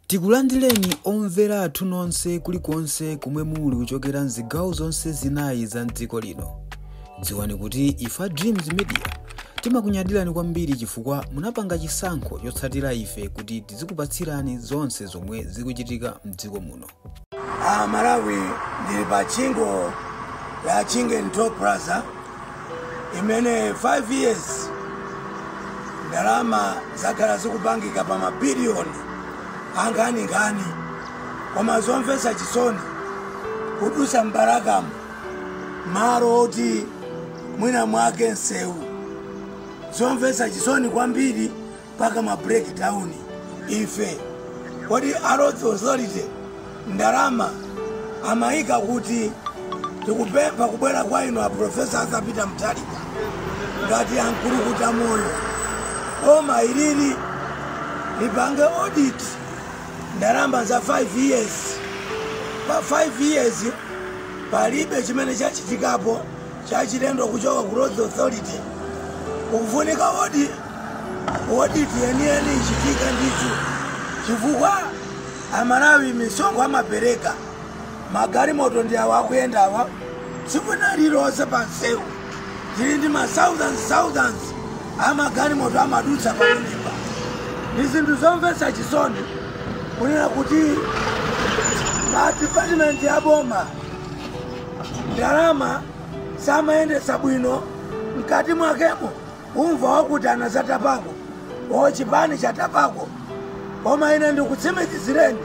Tikulandireni omvera athu nonse kulikonse komwe muli kuchokera mzigawo zonse zinayi za mdziko lino. Dziwani kuti ife a Dreams Media timakunyadirani kwambiri chifukwa munapanga chisankho chotsatira ife kuti tizikupatsirani zonse zomwe zikuchitika mdziko muno. Amalawi ndili pa tchingo la Chingeni Toll Plaza imene 5 years ndalama zakhala zikupangika pa mabiliyoni ankhaninkhani koma zomvetsa chisoni kudusa m'Balakamu malo oti mwina mwake msewu zomvetsa chisoni kwambiri mpaka ma breakdown ife kodi a Roads Authority ndalama amayika kuti tikupempha kubwera kwa inu a profesa Arthur Peter Mutharika ngati ankulukuta moyo boma ilili lipange audit ndalama za 5 years pa 5 years palibe chimene chachitikapo chachilendo kuchoka ku Roads Authority. Kukufunika audit yeniyeni ichitike ndithu, chifukwa Amalawi misonkho amapereka magalimoto ndi awa akuyendawa tsiku lina lililonse pa msewu tili ndi ma thousands thousands a magalimoto amadutsa pamenepa. Ndi zinthu zomvetsa chisoni kunena kuti ma department a boma ndalama samayendetsa bwino mkati mwakemo umva wakuti anazatapako o chipani chatapako koma ine ndikutsimikizireni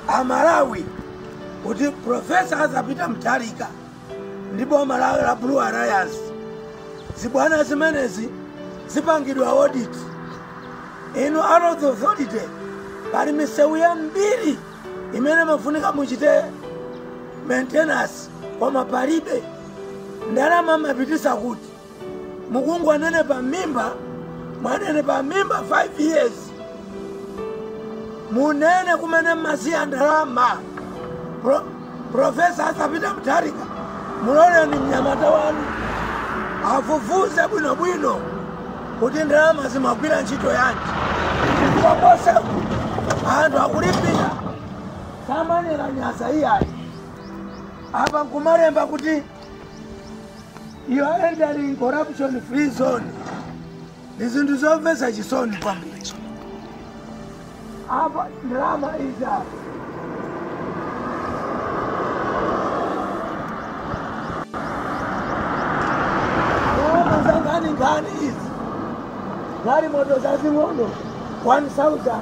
amalawi kuti profesa Arthur Peter Mutharika ndi boma la, la Blue Alliance zibwana zimenezi zipangidwe audit inu a Roads Authority pali misewu yambiri imene imafunika muchite maintenance koma palibe ndalama mmapitisa kuti mukungonenepa mimba mwanenepa mimba 5 years munene kumene mmasiya ndalama Pro- Professor Arthur Peter Mutharika, muloleni mnyamata wanu afufuze bwinobwino kuti ndalama zimagwira ntchito yanji chifukwa koseku anthu akulipira samanera nyasa iyayi apa nkumalemba kuti you are entering corruption free zone Ni zinthu zomvetsa chisoni kwambiri. Apa ndalama izi apa. Ndalama zankhaninkhani izi. Galimoto zazing'ono 1000.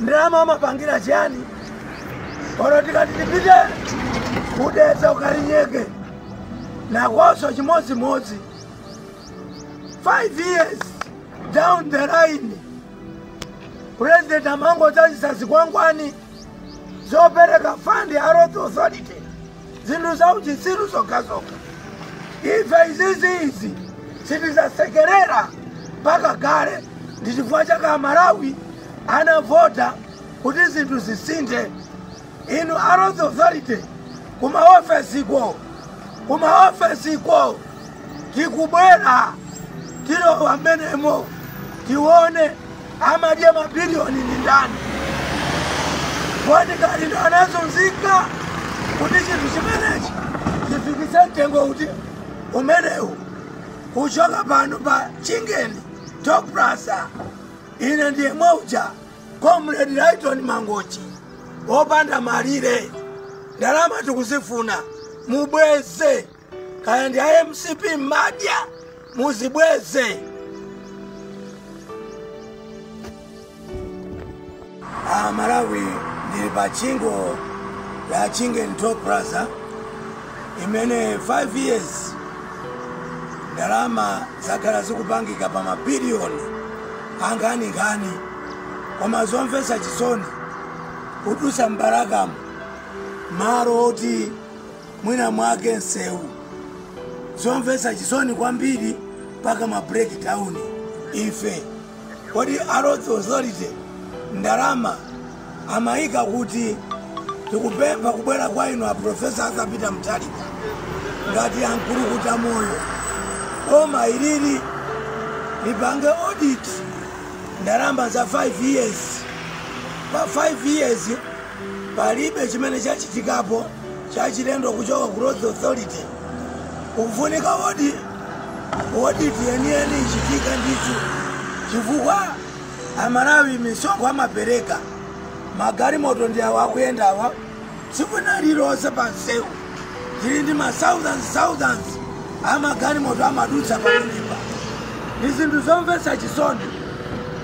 ndalama amapangira chiyani olo tikati tipite ku Dedza uku Kalinyeke nakonso chimodzimodzi 5 years down the line president amangodzazitsa zikwangwani zopereka fund ya roads authority zinthu za uchitsiru zokhazokha ife izizi izi sitidzasekerera mpaka kale ndi chifukwa chake amalawi anavota kuti zinthu zisinthe inu a roads authority kumaofesi ko kumaofesi ko Tikubwera, tilowa mmenemo, tione amadya mabiliyoni ndi ndani. Kodi ngati ndi amene anazunzika kuti chinthu chimenechi chifikitse mtengo kuti umenewu kuchoka pano pa chingeni toll plaza ine ndi yemwe uja comrade lyton mangochi opanda malire ndalama tikuzifuna mubweze kaya ndi a mcp mumadya muzibweze a malawi ndili pa chingo ya chingeni toll plaza imene 5 years ndalama zakhala zikupangika pa mabiliyoni ankhaninkhani koma zomvetsa chisoni kudutsa mu Balakamu malo oti mwina mwake nsewu zomvetsa chisoni kwambiri mpaka ma break down ife kodi a roads authority ndalama amayika kuti tikupempha kubwera kwa inu a profesa Arthur Peter Mutharika ngati a Nkulukutamoyo koma ilili lipange audit ndalama za 5 years pa 5 years palibe chimene chachitikapo chachilendo kuchoka ku roads authority kufunika audi audit yeniyeni ichitika ndithu chifukwa amalawi misonkho amapereka magalimoto ndi awa akuyendawa tsiku lina lililonse pa msewu tili ndi ma thousands thousands a magalimoto amadutsa pamenepa ndi zinthu zomvetsa chisoni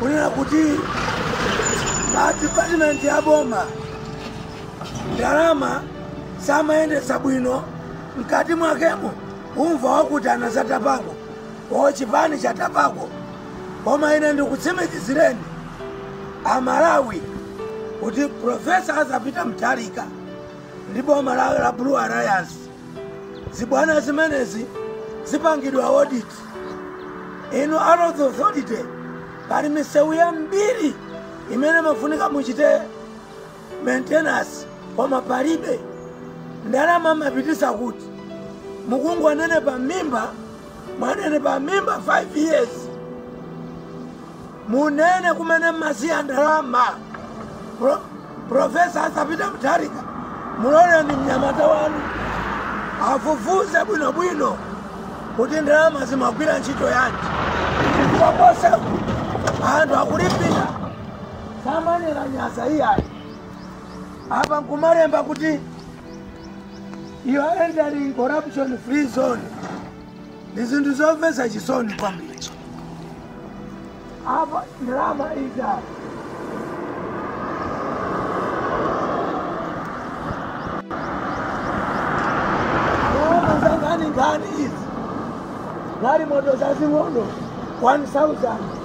kunena kuti ma department a boma ndalama samayendetsa bwino mkati mwakemo umva wakuti anazatapako o chipani chatapako koma ine ndikutsimikizireni amalawi kuti Profesa Arthur Peter Mutharika ndi boma la, la Blue Alliance zibwana zimenezi zipangidwa audit inu a Roads Authority pali misewu yambiri imene mafunika muchite maintenance koma palibe ndalama mmapititsa kuti mukungonenepa mimba mwanenepa mimba 5 years munene kumene mmasiya ndalama Pro, profesa Arthur Peter Mutharika muloleni mnyamata wanu afufuze bwinobwino kuti ndalama zimagwira ntchito yanji chifukwa konse anthu akulipira samanenanyadza iyayi apa nkumalemba kuti you are entering corruption free zone ndi zinthu zomvetsa chisoni kwambiri apa ndalama izi apa ndalama za nkhani nkhani izi galimoto zazing'ono 1000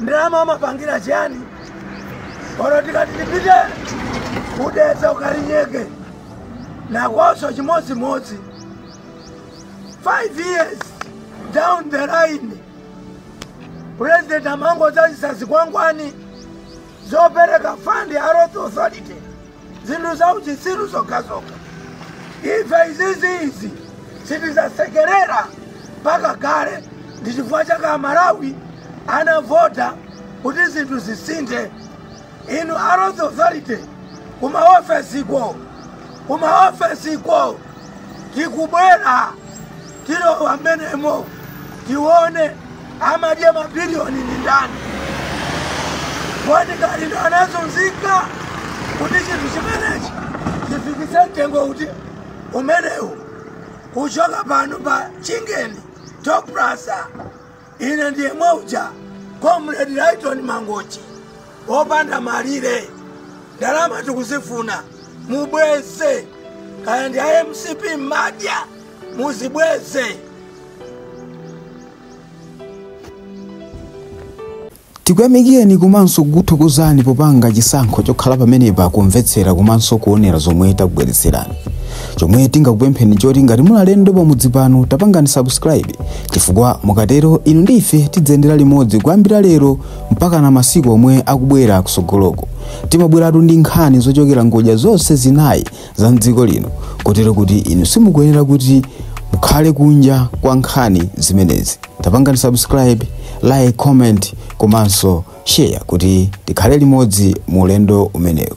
ndalama amapangira chiyani oro tikati tipite ku Dedza ku Kalinyeke nakonso chimodzimodzi 5 years down the line president amangodzadzitsa zikwangwani zopereka fund ya Roads Authority zinthu za uchitsiru zokhazokha ife izizi izi sitidzasekerera mpaka kale ndi chifukwa chake amalawi anavota kuti zinthu zisinthe inu a Roads Authority kumaofesiko kumaofesiko tikubwera Tilowa mmenemo tione amadya mabiliyoni ndi ndani. Kodi ngati ndi anazunzika kuti chinthu chimenechi chifikitse mtengo uti umenewu kuchoka pano pa Chingeni Toll Plaza Ine ndi yemwe uja Comrade Lighton Mangochi opanda malire ndalama tikuzifuna mubweze kaya ndi a MCP mmadya muzibweze Tikuyamikireni komanso kukuthokozani popanga chisankho chokhala pamenepa kumvetsera komanso kuonera zomwe takubweretserani. Chomwe tingakupempheni nchoti ngati muli alendo pamudzi pano tapangani subscribe chifukwa mukatero inu ndi ife tidziyendera limodzi kuyambira lero mpakana masiku omwe akubwera kutsogoloko. Timabweratu ndi nkhani zochokera ngodya zonse zinayi za mdziko lino kotero kuti inu simukuyenera kuti mukhale kunja kwa nkhani zimenezi tapangani subscribe like comment komanso share kuti tikhale limodzi mu ulendo umenewu